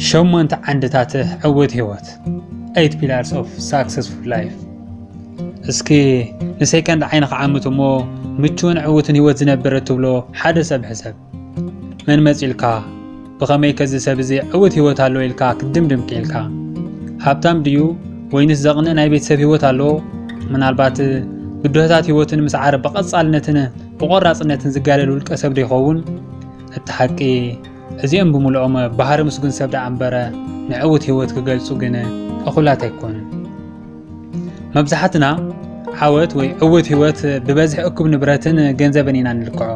ሸሞንተ ዓንድታት ዕውት ህይወት ኤይት ፒላርስ ኦፍ ሳክሰስፉል ላይፍ እስኪ ንሰይቀንዲ ዓይንኻ ዓምት እሞ ምቹውን ዕውትን ህይወት ዝነብር እትብሎ ሓደ ሰብ ሕሰብ መን መጺልካ ብኸመይ ከዚ ሰብ እዚ ዕውት ህይወት ኣለዎ ኢልካ ክትድምድም ክኢልካ? ሃብታም ድዩ ወይንስ ዘቕንእ ናይ ቤተሰብ ህይወት ኣለዎ? ምናልባት ብድሆታት ህይወትን ምስ ዓረ ብቐጻልነትን ብቖራጽነትን ዝጋደል ውልቀ ሰብ ዶ ይኸውን? እቲ ሓቂ እዚኦም ብምልኦም ባህሪ ምስጉን ሰብ ደኣ እምበረ ንዕውት ህይወት ክገልጹ ግን እኹላት ኣይኮኑን። መብዛሕትና ዓወት ወይ ዕውት ህይወት ብበዝሒ እኩብ ንብረትን ገንዘብን ኢና ንልክዖ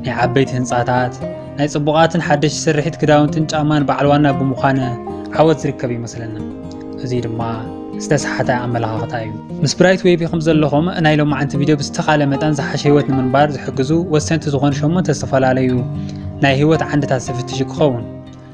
ናይ ዓበይቲ ህንፃታት ናይ ፅቡቓትን ሓደሽቲ ስርሒት ክዳውንትን ጫማን በዓል ዋና ብምዃን ዓወት ዝርከብ ይመስለና እዚ ድማ ዝተሰሓተ ኣመለኻኽታ እዩ ምስ ብራይት ዌቢ ከም ዘለኹም ናይ ሎማዓንቲ ቪድዮ ብዝተኻለ መጠን ዝሓሸ ህይወት ንምንባር ዝሕግዙ ወሰንቲ ዝኾኑ ሸሞንተ ዝተፈላለዩ ናይ ህይወት ዓንድታት ዝፍትሽ ክኸውን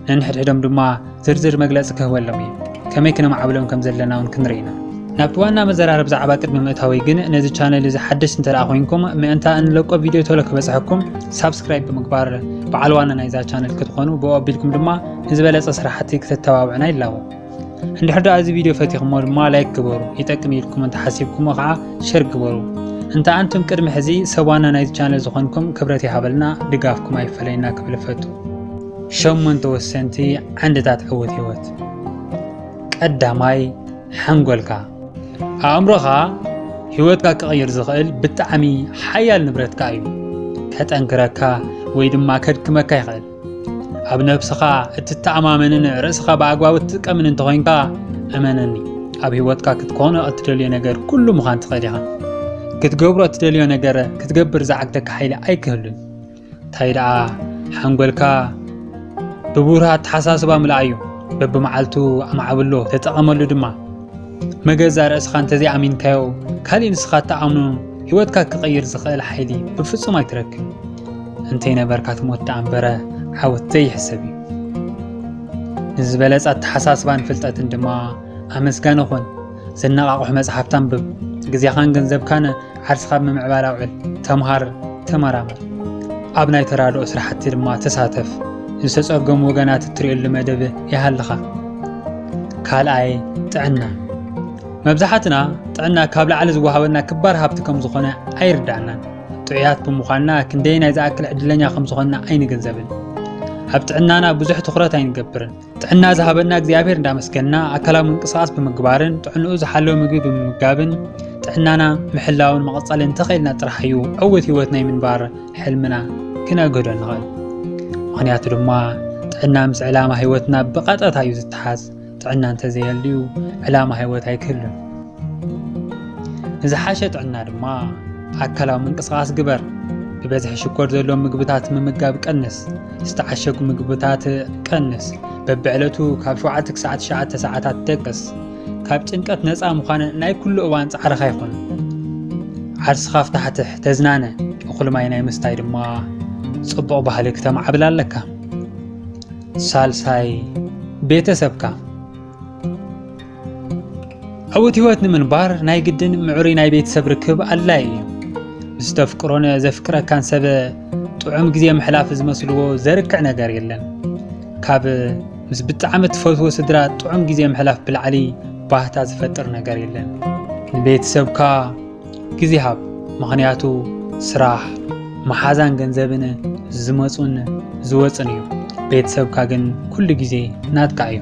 ነንሕድሕዶም ድማ ዝርዝር መግለጺ ክህበሎም እዩ። ከመይ ክነማዕብሎም ከም ዘለና እውን ክንርኢ ኢና። ናብቲ ዋና መዘራረብ ዛዕባ ቅድሚ ምእታወይ ግን ነዚ ቻነል እዚ ሓደሽ እንተደኣ ኮይንኩም ምእንታ እንለቆ ቪድዮ ቶሎ ክበጽሐኩም ሳብስክራይብ ብምግባር በዓል ዋና ናይዛ ቻነል ክትኾኑ ብኡ ኣቢልኩም ድማ ንዝበለጸ ስራሕቲ ክተተባብዑና ይላቦ። እንድሕር ደኣ እዚ ቪድዮ ፈቲኹሞ ድማ ላይክ ግበሩ፣ ይጠቅም ኢልኩም እንተሓሲብኩሞ ከዓ ሸር ግበሩ። እንተ ኣንቱም ቅድሚ ሕዚ ሰብ ዋና ናይዚ ቻነል ዝኾንኩም ክብረት ይሃበልና፣ ድጋፍኩም ኣይፈለየና ክብል እፈቱ። ሸሞንተ ወሰንቲ ዓንድታት ዕውት ህይወት። ቀዳማይ፣ ሓንጎልካ። ኣእምሮኻ ህይወትካ ክቕይር ዝኽእል ብጣዕሚ ሓያል ንብረትካ እዩ። ከጠንክረካ ወይ ድማ ከድክመካ ይኽእል። ኣብ ነብስኻ እትተኣማመንን ርእስኻ ብኣግባቡ እትጥቀምን እንተኾይንካ እመነኒ ኣብ ህይወትካ ክትኮኖ እትደልዮ ነገር ኩሉ ምዃን ትኽእል ኢኻ። ክትገብሮ እትደልዮ ነገር ክትገብር ዝዓግተካ ሓይሊ ኣይክህሉን። እንታይ ደኣ ሓንጎልካ ብብሩህ ኣተሓሳስባ ምልኣዩ በብመዓልቱ ኣማዕብሎ ተጠቐመሉ ድማ መገዛ ርእስኻ እንተዘይኣሚንካዮ ካሊእ ንስኻ እትኣምኖ ህይወትካ ክቕይር ዝኽእል ሓይሊ ብፍጹም ኣይትረክብ እንተይነበርካ ትሞት ደኣ እምበረ ዓወት ዘይሕሰብ እዩ ንዝበለጸ ኣተሓሳስባን ፍልጠትን ድማ ኣመስጋኒ ኹን ዘነቓቕሑ መጽሓፍቲ ኣንብብ፣ ግዜኻን ገንዘብካን ዓርስኻ ኣብ ምምዕባል ኣውዕል፣ ተምሃር፣ ተመራመር፣ ኣብ ናይ ተራድኦ ስራሕቲ ድማ ተሳተፍ፣ ዝተጸገሙ ወገናት እትርእየሉ መደብ ይሃልኻ። ካልኣይ ጥዕና መብዛሕትና ጥዕና ካብ ላዕሊ ዝወሃበና ክባር ሃብቲ ከም ዝኾነ ኣይርዳእናን። ጥዑያት ብምዃንና ክንደይ ናይ ዝኣክል ዕድለኛ ከም ዝኾንና ኣይንግንዘብን። ኣብ ጥዕናና ብዙሕ ትኹረት ኣይንገብርን። ጥዕና ዝሃበና እግዚኣብሔር እንዳመስገና ኣካላዊ ምንቅስቃስ ብምግባርን ጥዕንኡ ዝሓለወ ምግቢ ብምምጋብን ጥዕናና ምሕላውን መቐፃሊ እንተኽኢልና ጥራሕ እዩ ዕውት ህይወት ናይ ምንባር ሕልምና ክነግህዶ ንኽእል ምክንያቱ ድማ ጥዕና ምስ ዕላማ ህይወትና ብቐጥታ እዩ ዝተሓዝ ጥዕና እንተዘየልዩ ዕላማ ህይወት ኣይክህሉን ንዝሓሸ ጥዕና ድማ ኣካላዊ ምንቅስቓስ ግበር። ብበዝሒ ሽኮር ዘለዎም ምግብታት ምምጋብ ቀንስ፣ ዝተዓሸጉ ምግብታት ቀንስ፣ በብዕለቱ ካብ 7 ክሳዕ 9 ሰዓታት ደቅስ። ካብ ጭንቀት ነፃ ምዃን ናይ ኩሉ እዋን ፃዕርኻ ይኹን። ዓርስኻ ፍታሕትሕ ተዝናነ፣ እኹል ማይ ናይ ምስታይ ድማ ፅቡቕ ባህሊ ክተማዕብል ኣለካ። ሳልሳይ ቤተሰብካ ዕዉት ህይወት ንምንባር ናይ ግድን ምዕሩይ ናይ ቤተሰብ ርክብ ኣድላዪ እዩ። ምስ ተፍቅሮን ዘፍቅረካን ሰብ ጥዑም ግዜ ምሕላፍ ዝመስልዎ ዘርክዕ ነገር የለን። ካብ ምስ ብጣዕሚ እትፈትዎ ስድራ ጥዑም ግዜ ምሕላፍ ብላዕሊ ባህታ ዝፈጥር ነገር የለን። ንቤተሰብካ ግዜ ሃብ ምኽንያቱ ስራሕ መሓዛን ገንዘብን ዝመፁን ዝወፅን እዩ ቤተሰብካ ግን ኩሉ ግዜ ናትካ እዩ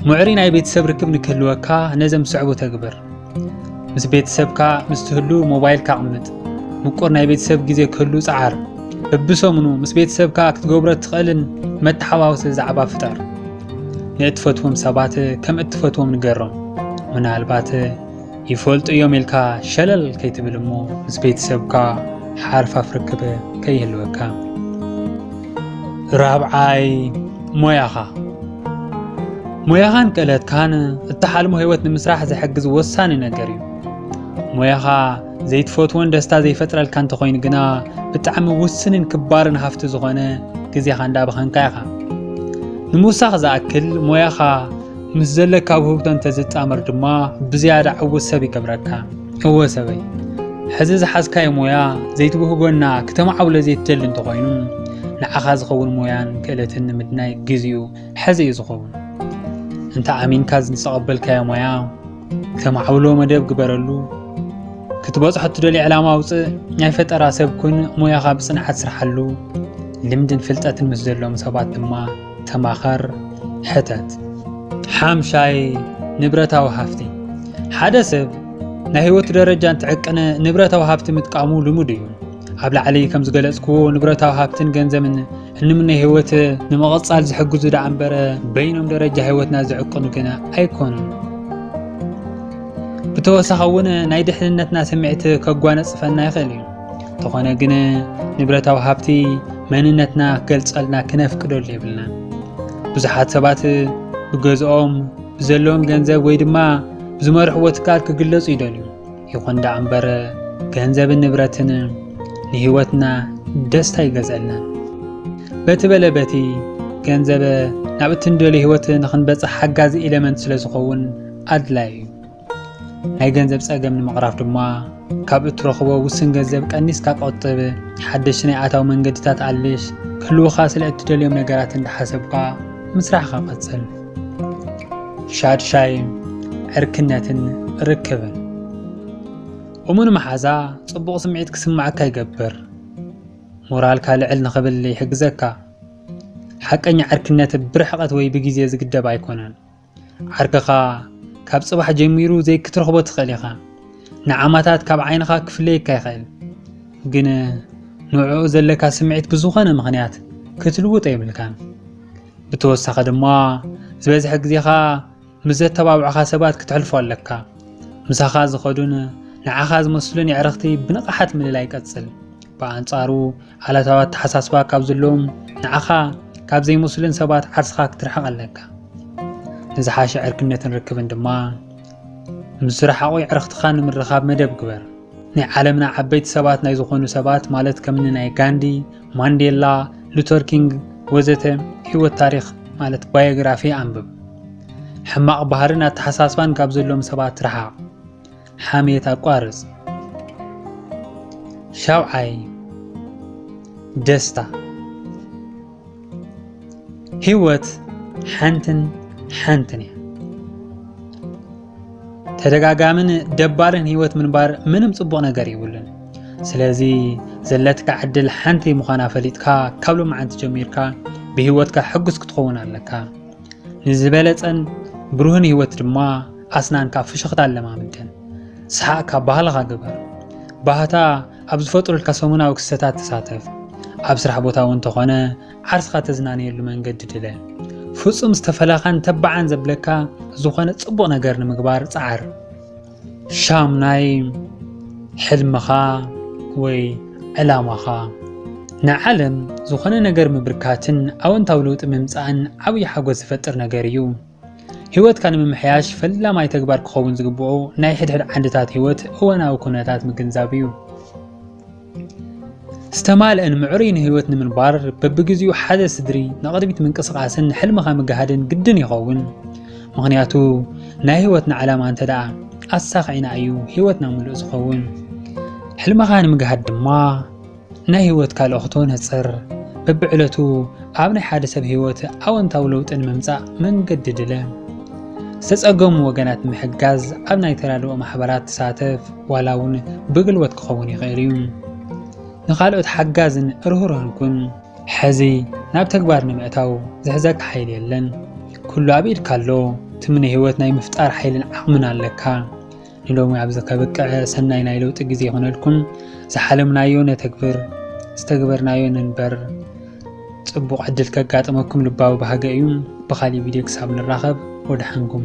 ምዕሪ ናይ ቤተሰብ ርክብ ንክህልወካ ነዘም ስዕቡ ተግብር ምስ ቤተሰብካ ምስ ትህሉ ሞባይልካ ኣቕምጥ ምቁር ናይ ቤተሰብ ግዜ ክህሉ ፀዓር በብሰሙኑ ምስ ቤተሰብካ ክትገብሮ እትኽእልን መተሓዋወሲ ዛዕባ ፍጠር ንእትፈትዎም ሰባት ከም እትፈትዎም ንገሮም ምናልባት ይፈልጡ እዮም ኢልካ ሸለል ከይትብል እሞ ምስ ቤተሰብካ ሓርፋፍ ርክብ ከይህልወካ። ራብዓይ ሞያኻ ሞያኻን ክእለትካን እትሓልሞ ህይወት ንምስራሕ ዝሕግዝ ወሳኒ ነገር እዩ። ሞያኻ ዘይትፈትዎን ደስታ ዘይፈጥረልካ እንተኾይኑ ግና ብጣዕሚ ውስንን ክባርን ሃፍቲ ዝኾነ ግዜኻ እንዳባኸንካ ኢኻ። ንምውሳኽ ዝኣክል ሞያኻ ምስ ዘለካ ውህብቶ እንተዝጣመር ድማ ብዝያዳ ዕውት ሰብ ይገብረካ። እወ ሰበይ፣ ሕዚ ዝሓዝካዮ ሞያ ዘይትውህበና ክተማዕብሎ ዘይትደሊ እንተኾይኑ፣ ንዓኻ ዝኸውን ሞያን ክእለትን ንምድናይ ግዚኡ ሕዚ እዩ ዝኸውን። እንተ ኣሚንካ ዝተቐበልካዮ ሞያ ክተማዕብሎ መደብ ግበረሉ። ክትበጽሖ እትደልዮ ዕላማ ኣውጽእ። ናይ ፈጠራ ሰብ ኩን፣ ሞያኻ ብጽንዓት ስርሓሉ። ልምድን ፍልጠትን ምስ ዘለዎም ሰባት ድማ ተማኸር፣ ሕተት። ሓምሻይ፣ ንብረታዊ ሃፍቲ። ሓደ ሰብ ናይ ህይወቱ ደረጃ እንትዕቅን ንብረታዊ ሃፍቲ ምጥቃሙ ልሙድ እዩ። ኣብ ላዕሊ ከም ዝገለጽክዎ ንብረታዊ ሃብትን ገንዘብን እንምነ ህይወት ንምቕጻል ዝሕግዙ ደኣ እምበረ በይኖም ደረጃ ህይወትና ዝዕቅኑ ግና ኣይኮኑን። ብተወሳኺ እውን ናይ ድሕንነትና ስምዒት ከጓነጽፈና ይኽእል እዩ። እንተኾነ ግን ንብረታዊ ሃብቲ መንነትና ክገልጸልና ክነፍቅደሉ የብልናን። ብዙሓት ሰባት ብገዝኦም ብዘለዎም ገንዘብ ወይ ድማ ብዝመርሕዎ ትካል ክግለጹ ይደልዩ። ይኹን ደኣ እምበር ገንዘብን ንብረትን ንህይወትና ደስታ ይገዝአልናን። በቲ በለ በቲ ገንዘብ ናብ እትንደልዮ ህይወት ንኽንበጽሕ ሓጋዚ ኤለመንት ስለ ዝኸውን ኣድላዩ እዩ። ናይ ገንዘብ ጸገም ንምቕራፍ ድማ ካብ እትረኽቦ ውስን ገንዘብ ቀኒስካ ቆጥብ። ሓደሽ ናይ ኣታዊ መንገድታት ኣልሽ። ክህልውኻ ስለ እትደልዮም ነገራት እንዳሓሰብካ ምስራሕኻ ቀጽል። ሻድሻይ ዕርክነትን ርክብን እሙን መሓዛ ጽቡቕ ስምዒት ክስማዓካ ይገብር፣ ሞራልካ ልዕል ንኽብል ይሕግዘካ። ሓቀኛ ዕርክነት ብርሕቐት ወይ ብግዜ ዝግደብ ኣይኮነን። ዓርክኻ ካብ ጽባሕ ጀሚሩ ዘይክትረኽቦ ትኽእል ኢኻ ንዓማታት ካብ ዓይንኻ ክፍለየካ ይኽእል ግን ንዕኡ ዘለካ ስምዒት ብዝኾነ ምኽንያት ክትልውጦ የብልካን ብተወሳኺ ድማ ዝበዝሐ ግዜኻ ምስ ዘተባብዑኻ ሰባት ክተሕልፎ ኣለካ ምሳኻ ዝኸዱን ንዓኻ ዝመስሉን የዕረኽቲ ብንቕሓት ምልላይ ቀጽል ብኣንጻሩ ዓለታዊ ኣተሓሳስባ ካብ ዘለዎም ንዓኻ ካብ ዘይመስሉን ሰባት ዓርስኻ ክትርሕቕ ኣለካ ንዝሓሸ ዕርክነትን ርክብን ድማ ምስ ዝረሓቑ ዕርኽትኻ ንምርኻብ መደብ ግበር ናይ ዓለምና ዓበይቲ ሰባት ናይ ዝኾኑ ሰባት ማለት ከምኒ ናይ ጋንዲ ማንዴላ ሉተር ኪንግ ወዘተ ህይወት ታሪክ ማለት ባዮግራፊ ኣንብብ ሕማቕ ባህርን ኣተሓሳስባን ካብ ዘለዎም ሰባት ረሓቕ ሓሜት ኣቋርጽ። ሻውዓይ ደስታ ህይወት ሓንትን ሓንትን እያ። ተደጋጋምን ደባልን ህይወት ምንባር ምንም ጽቡቕ ነገር ይብሉን። ስለዚ ዘለትካ ዕድል ሓንቲ ምዃና ፈሊጥካ ካብ ሎማዓንቲ ጀሚርካ ብህይወትካ ሕጉስ ክትኸውን ኣለካ። ንዝበለጸን ብሩህን ህይወት ድማ ኣስናንካ ፍሽኽታ ኣለማምደን ሰሓቕካ ባህልኻ ግበር ባህታ ኣብ ዝፈጥሩልካ ሰሙናዊ ክስተታት ተሳተፍ ኣብ ስራሕ ቦታ እውን ተኾነ ዓርስኻ ተዝናንየሉ መንገዲ ድለ ፍጹም ዝተፈለኻን ተባዓን ዘብለካ ዝኾነ ጽቡቕ ነገር ንምግባር ጸዓር ሻምናይ ሕልምኻ ወይ ዕላማኻ ንዓለም ዝኾነ ነገር ምብርካትን ኣወንታዊ ለውጢ ምምፃእን ዓብዪ ሓጎስ ዝፈጥር ነገር እዩ ህይወትካ ንምምሕያሽ ፈላማይ ተግባር ክኸውን ዝግብኦ ናይ ሕድሕድ ዓንድታት ህይወት እዋናዊ ኩነታት ምግንዛብ እዩ ዝተማልእን ምዕሩይን ህይወት ንምንባር በብግዚኡ ሓደ ስድሪ ንቕድሚት ምንቅስቓስን ንሕልምኻ ምግሃድን ግድን ይኸውን ምክንያቱ ናይ ህይወትና ዓላማ እንተ ደኣ ኣሳኺዕና እዩ ህይወትና ምሉእ ዝኸውን ሕልምኻ ንምግሃድ ድማ ናይ ህይወትካ ልእኽቶ ነፅር በብዕለቱ ኣብ ናይ ሓደ ሰብ ህይወት ኣወንታዊ ለውጢ ንምምጻእ መንገዲ ድለ። ዝተጸገሙ ወገናት ንምሕጋዝ ኣብ ናይ ተራድኦ ማሕበራት ተሳተፍ፣ ዋላ እውን ብግልቦት ክኸውን ይኽእል እዩ። ንኻልኦት ሓጋዝን ርህሩህን ኩን። ሕዚ ናብ ተግባር ንምእታው ዝሕዘካ ሓይሊ የለን። ኩሉ ኣብ ኢድካ ኣሎ። ትምነ ህይወት ናይ ምፍጣር ሓይልን ዓቕምን ኣለካ። ንሎሚ ኣብዚ ከብቅዐ ሰናይ ናይ ለውጢ ግዜ ይኹነልኩም። ዝሓለምናዮ ነተግብር፣ ዝተግበርናዮ ንንበር። ጽቡቕ ዕድል ከጋጥመኩም ልባዊ ባህገ እዩ። ብኻሊእ ቪድዮ ክሳብ ንራኸብ ወደሓንኩም።